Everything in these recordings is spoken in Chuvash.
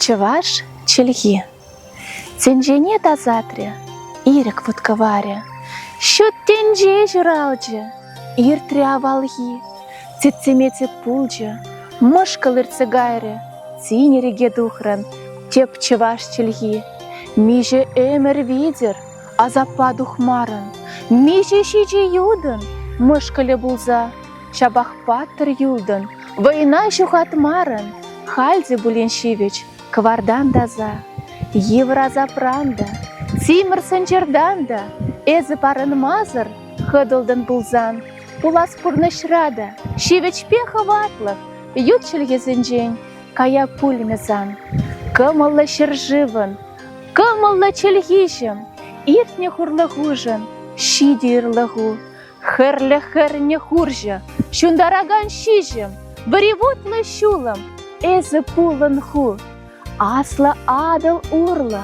Чӑваш чӗлхи тӗнчене тасатрӗ, ирӗк вӑткӑварӗ. Ҫут тӗнче ҫуралчӗ, иртрӗ авалхи. Тӗтсӗмете пулчӗ, мӑшкӑл иртсе кайрӗ, тин иреке тухрӑн тӗп чӑваш чӗлхи. Миҫе ӗмӗр витӗр Асаппа тухмарӑн, миҫе ҫичӗ ютӑн мӑшкӑлӗ пулса, ҫапах паттӑр юлтӑн, вӑйна ҫухатмарӑн, халь те пулин ҫивӗч кӑвартан таса, йывӑр асапран та, симӗр сӑнчӑртан та эсӗ парӑнмасӑр хӑтӑлтӑн пулсан, пулас пурнӑҫра та ҫивӗчпе хӑватлӑх ют чӗлхесенчен кая пулмӗ сан. Кӑмӑллӑ ҫӗршывӑн Кӑмӑллӑ чӗлхиҫӗм, иртнӗ хурлӑхушӑн ҫитӗ ырлӑху. Хӗрлӗ хӗрне хурҫӑ, ҫунтаракан ҫиҫӗм, вӑривутлӑ ҫулӑм, эсӗ пулӑн ху. Аслӑ Атӑл урлӑ,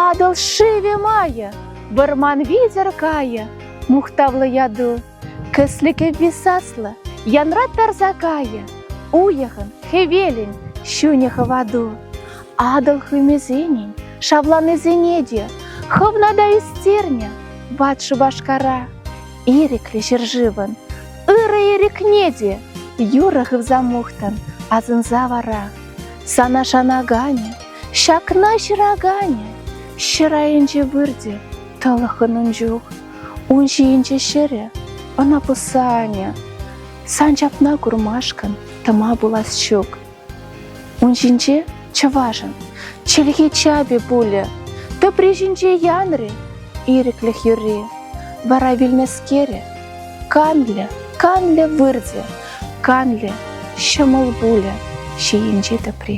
Атӑл шывӗ майӗ, вӑрман витӗр кайӗ мухтавлӑ яту. Кӗслӗкӗ висаслӑ, янра тарса кайӗ. Уйӑхӑн, хӗвелӗн ҫунӗ хӑвату. Атӑл хымӗсенӗн шавланисене те хӑвна та ӳстернӗ ват Шупашкара. Ирӗклӗ ҫӗршывӑн ырӑ ирӗкне те юрӑ хывса мухтӑн, асӑнса вара. Сана шанаканӗ, ҫакна ҫыраканӗ, ҫӗр айӗнче выртӗ тӑлӑххӑн ун чух. Ун ҫийӗнче ҫӗрӗ, ӑна пӑсса анӗ. Сан ҫакна курмашкӑн тӑма пулас ҫук. Ун ҫинче чӑвашӑн чӗлхи чапӗ пулӗ. Тӑпри ҫинче янрӗ ирӗклӗх юрри. Вара вилнӗскерӗ канлӗ, канлӗ выртӗ, канлӗ ҫӑмӑл пулӗ ҫийӗнчи тӑпри.